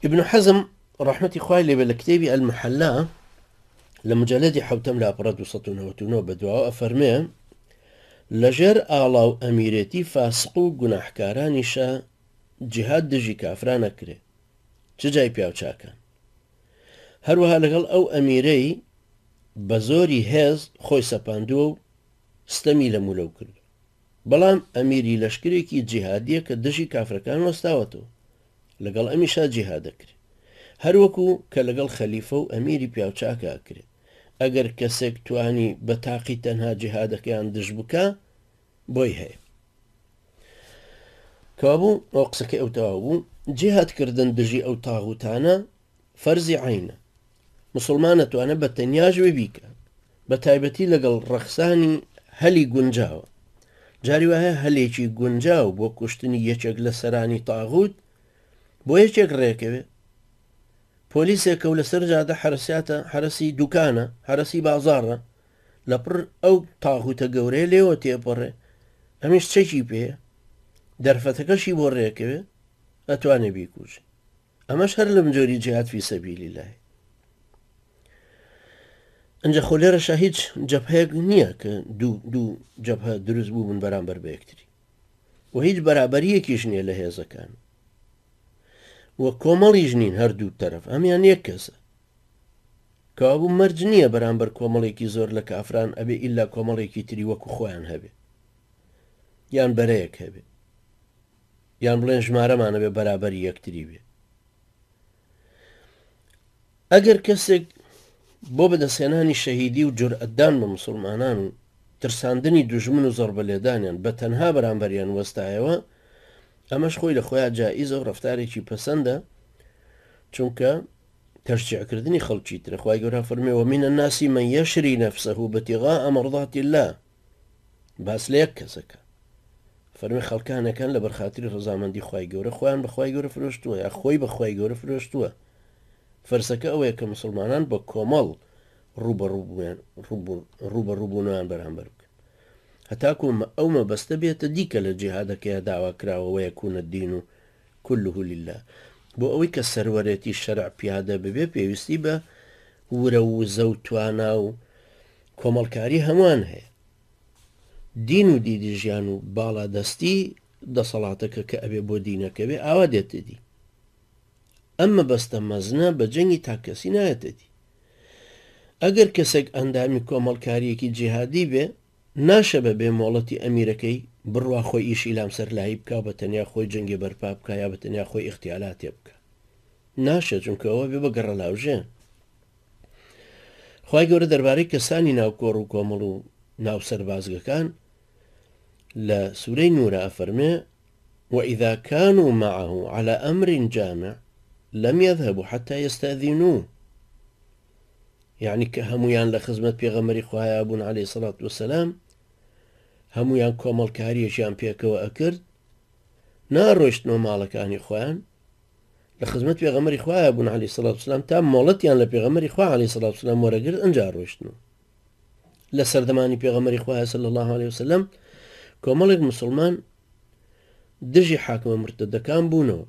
ابن حزم ڕەحمەتی خوای لێبێ لە کتێبی ئەلمحەلا لە مجلدی حوتەم لاپەڕە 1990 بە دواوە ئەفەرمێ لەژێر ئاڵا و ئەمیرێتی فاسق و گوناحکارانیشە جهاد دژی کافرانە کرێ چ جای پیاوچاکان هەروەها لەگەڵ ئەو ئەمیرەی بە زۆری هێز خۆی سەپاندووە و ستەمی لە مولەو کرد بەڵام ئەمیری لەشکرێکی جیهادیە کە دژی کافرەکان وەستاوەتەوە لەگەڵ ئەمیشا جیهاد ئەکرێ هەروەکو کە لەگەڵ خەلیفە و ئەمیری پیاوچاکە ئەکرێ ئەگەر کەسێک توانی بە تاقی تەنها جیهادەکەیان دژ بکا بۆی هەیە کەوابوو ئەو قسەکەی ئەو تەواو بوو جیهاد کردن دژی ئەو تاغوتانە فەرزی عەینە موسڵمان ئەتوانێت بە تەنیاش وی بیکە بە تایبەتی لەگەڵ ڕەخسانی هەلی گونجاوە جاری وایە هەلێکی گونجاو بۆ کوشتنی یەکێک لە سەرانی تاغوت بۆ یەکێک ڕێکەوێت پۆلیسێکە و لەسەر جادە حرساتە حرسی دوکانە حرسی بازارە لە پڕ ئەو تاغوتە گەورەیە لێوە تێپەڕێ ئەمیش چەکی پێ دەرفەتەکەشی بۆ ڕێکەوێت ئەتوانێ بیکوژێت ئەمەش هەر لەم جۆری جیهاد فی سەبیل اللە ئەجا خۆ لێرەشا هیچ جەبهەیەک نییە کە دوو دوو جەبهە دروست بوو من بەرامبەر بە یەکتری و هیچ بەرابەریەکیش نییە لە هێزەکان و کۆمەڵیش نین هەردوو تەرەف ئەمیان یەک کەسە کابوو مەرج نییە بەرامبەر کۆمەڵێکی زۆر لە کافران ئەبێ ئللا کۆمەڵێکی تری وەکو خۆیان هەبێ یان بەرەیەک هەبێ یان بڵێن ژمارەمان ئەبێ بەرابەری یەکتری بێ. ئەگەر کەسێک بۆ بەدەستهێنانی شەهیدی و جورئەتدان بە مسلمانان و ترساندنی دوژمن و زەڕبە لێدانیان بە تەنها بەرامبەریان وەستایەوە ئەمەش خۆی لە خۆیان جائیزە و ڕفتارێکی پەسەندە چونکە تەشجیعکردنی خەڵکی ترە خی گەورە فەرمێەوە منە ناسی من یەشری نەفسە و بەتیغا ئەمەڕداتی الله باس لە یەک کەس ئەکا فەرمووی خەڵکانەکان لە بەرخاتری ڕزامەندی خی گەورە خۆیان بەخوای گەورە فرۆشتووە یا خۆی بەخوای گەورە فرۆشتووە فەرسەکە ئەوەیە کە مسلمانان بە کۆمەڵ ڕوبەڕوبوونیان بەرامبەر بکە هەتاکومە ئەو مەبەستە بێتە دیکە لە جیهادەکەی داوا کراوەوەیە کوونە دین و کله للە بۆ ئەوەی کە سەروەرێتی شەرع پیادە ببێ پێویستی بە ورە و وزە و توانا و کۆمەڵکاری هەمووان هەیە دین و دیدی ژیان و باڵا دەستی دەسەڵاتەکە کە ئەبێ بۆ دینەکەوێ ئاوا دێتدی ئەم مەبەستە مەزنە بە جەنگی تاکەسی نایەتەدی ئەگەر کەسێک ئەندامی کۆمەڵکاریەکی جیهادی بێ ناشە بە بێ مۆڵەتی ئەمیرەکەی بڕوا خۆی ئیشی لام سەرلایی بکا و بە تەنیا خۆی جەنگێ بەرپا بکا یا بە تەنیا خۆی ئیختیالاتێ بکا ناشە چونکە ئەوە بێ بە گەڕەلاوژێ خوای گەورە دەربارەی کەسانی ناو کۆڕ و کۆمەڵ و ناو سەربازگەکان لە سورەی نورە ئەفەرمێ وإذا كانوا معه على أمر جامع لم يذهبوا حتى يستأذنوه یەعنی کە هەموویان لە خزمەت پێغەمبەری خوایا بوون علیە الصلوة والسلام هەموویان کۆمەڵکاریەکیان پێکەوە ئەکرد ناڕۆشتنەوە ماڵەکانی خۆیان لە خزمەت پێغەمەری خوایا بوون علی سلات سلام تا مۆڵەتیان لە پێغەمەری خوا علی سلات سلام وەرەگرت ئەجا ڕۆشتن و لە سەردەمانی پێغەمەری خوایا سل الله عليه وسلم کۆمەڵێک مسلمان دژی حاکمە مرتدەکان بوونەوە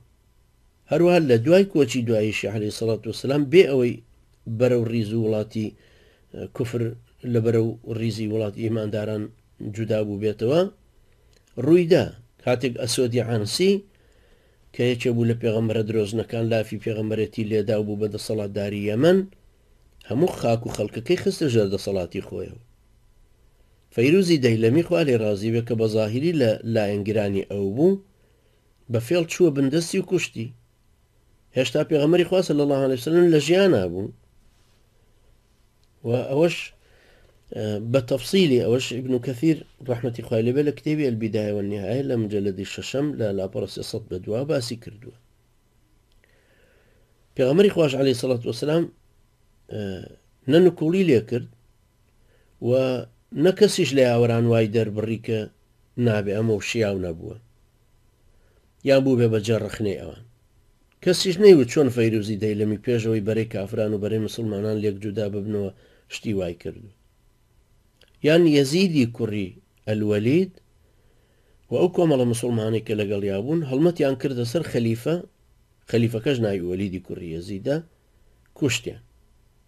هەروەها لە دوای کۆچی دواییشی عەلەیهی سەڵات وسەلام بێ ئەوەی بەرەو ڕیزو وڵاتی کوفر لە بەرەو ڕیزی وڵاتی ئیمانداران جودا بوبێتەوە ڕویدا کاتێک ئەسۆدی عەنسی کە یەکێ بوو لە پێغەمبەرە درۆزنەکان لافی پێغەمبەرێتی لێدا و بوو بە دەسەڵاتداری یەمەن هەموو خاک و خەڵکەکەی خستە ژێر دەسەڵاتی خۆیەوە فەیروزی دەیلەمی خوا لێ ڕازی بێ کە بە زاهیری لە لایەنگرانی ئەو بوو بە فێڵ چووە بن دەستی و کوشتی هێشتا پێغەمەری خوا صلی الله عليه وسلم لە ژیانا بوو و ئەوەش بە تەفسیلی ئەوەش ابن کەثیر ڕحمەتی خوای لەبێ لە کتێبی البدایەوە نهایە لە مجلدی شەشەم لە لاپەڕ سەد بە دوا باسی کردووە پێغەمەری خوش عليه سڵات وسلام نەنکوڵی لێ کرد و نە کەسیش لە یاوەران وای دەربڕی کە نابێ ئەمەو شیاو نەبووە یان بووبێ بە جێ ڕەخنەی ئەوان. کەسیش نەیوت چۆن فەیروزی دەیلەمی پێش ئەوەی بەرەی کافران و بەرەی موسڵمانان لێک جودا ببنەوە شتی وای کردووە. یان یەزیدی کوڕی ئەلوەلید و ئەو کۆمەڵە موسڵمانەی کە لەگەڵیا بوون هەڵمەتیان کردە سەر خەلیفە خەلیفەکەش ناوی وەلیدی کوڕی یەزیدە کوشتیان.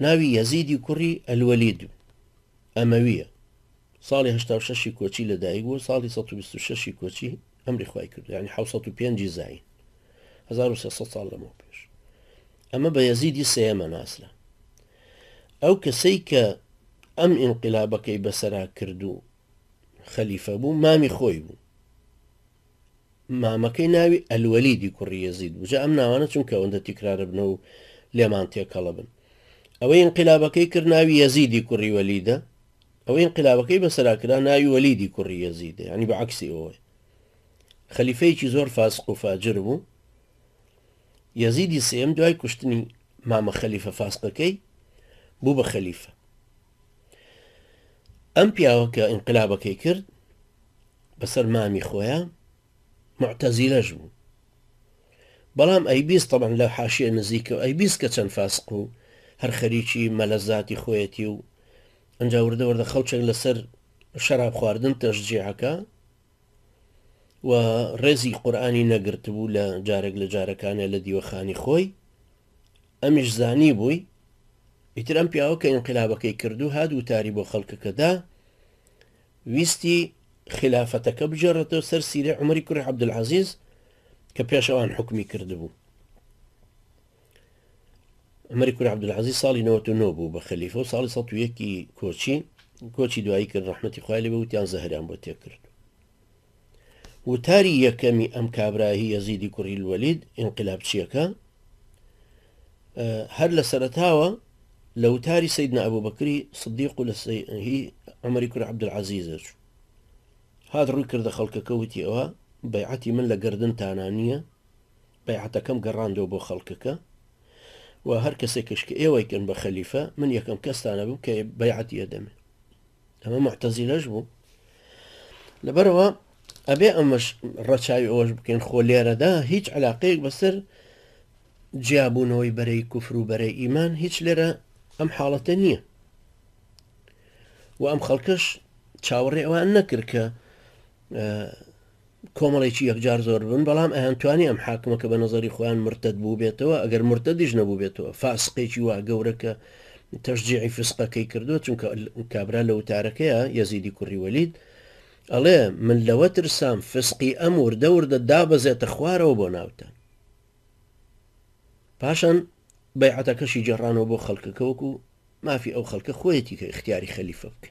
ناوی یەزیدی کوڕی ئەلوەلید ئەمەویە ساڵی هەشتا و شەشی کۆچی لە دایک بوو ساڵی 16 کۆچی ئەمری خی کرد ینی 1950 زین 1970 ساڵ لەمە پێش ئەمە بە یەزیدی سێمە ناسرا ئەو کەسەی کە ئەم ئینقلابەکەی بەسرا کرد و خەلیفە بوو مامی خۆی بوو مامەکەی ناوی الولیدی کوڕی یەزید بوو جا ئەم ناوانە چونکە ئەوەندە تیکراربنە و لێمان تێکەڵەبن ئەوەی ئینقلابەکەی کرد ناوی یەزیدی کوڕی وەلیدە ئەوەی ئینقلابەکەی بەسەرا کرا ناوی وەلیدی کوڕی یەزیدە ینی بە عکسی ئەوەی خەلیفەیەکی زۆر فاسق و فاجر بوو یەزیدی سێم دوای کوشتنی مامە خەلیفە فاسقەکەی بوو بە خەلیفە ئەم پیاوە کە ئینقلابەکەی کرد بەسەر مامی خۆیان معتەزیلەش بوو بەڵام ئەیبیست طبعا لە حاشیە نزیکە و ئەیبیست کە چەند فاسق و هەر خەریکی مەلەزاتی خۆیەتی و ئەجا وردە وردە خەڵچێک لەسەر شەراب خواردن تەشجیعەکە و ڕێزی قورآانی نەگرتبوو لە جارێک لە جارەکانە لە دیوەخانی خۆی ئەمیش زانیبووی ئیتر ئەم پیاوە کە ئینقلابەکەی کردو هات وتاری بۆ خەڵکەکە دا ویستی خیلافەتەکە بگێڕێتەوە سەر سیرەی عومەری کوڕی عەبدولعەزیز کە پێش ئەوان حوکمی کردبوو عمری کوری عبدالعزیز ساڵی 99 بوو بە خەلیفە و ساڵی 1 کۆچی کۆچی دوایی کرد ڕحمەتی خالی بە وتیان زەهران بۆ تێکرد وتاری یەکەمی ئەم کابرا هی یەزیدی کوڕی الوەلید ئینقلابچییەکە هەر لە سەرەتاوە لە وتاری سیدنا ئەبوبەکری صدیق و لە هی عمری کوڕ عبدالعزیزە چوو هات ڕووی کردە خەڵکەکە وتی ئەوە بەیعەتی من لە گردنتانا نییە بەیعەتەکەم گەڕاندەوە بۆ خەڵکەکە و هەر کەسێکش کە ئێوەیکەن بە خەلیفە، من یەکەم کەستان ئەبم کە بەیعەتی ئەدەم. ئەمە موعتەزیلەش بوو. لەبەرەوە ئەبێ ئەمەش ڕەچاوی ئەوەش بکەین خۆ لێرەدا هیچ علاقەیەک بەسەر جیابوونەوەی بەرەی کوفر و بەرەی ئیمان هیچ لێرە ئەم حاڵەتە نییە و ئەم خەڵکەش چاوەڕێ ئەوان نەکرد کە کۆمەڵێکی یەکجار زۆر بن بەڵام ئەیان توانی ئەم حاکمە کە بە نەزەری خۆیان مرتەد بووبێتەوە ئەگەر مرتەدیش نەبووبێتەوە فاسقێکی وا گەورە کە تەشجیعی فسقەکەی کردووە چونکە کابرا لە وتارەکەیە یەزیدی کوڕی وەلید ئەڵێ من لەوە ترسام فسقی ئەم وردە وردە دابەزێتە خوارەوە بۆ ناوتان پاشان بەیعەتەکەشی جێڕانەوە بۆ خەڵکەکەوەکو مافی ئەو خەڵکە خۆیەتی کە اختیاری خەلیفە بکە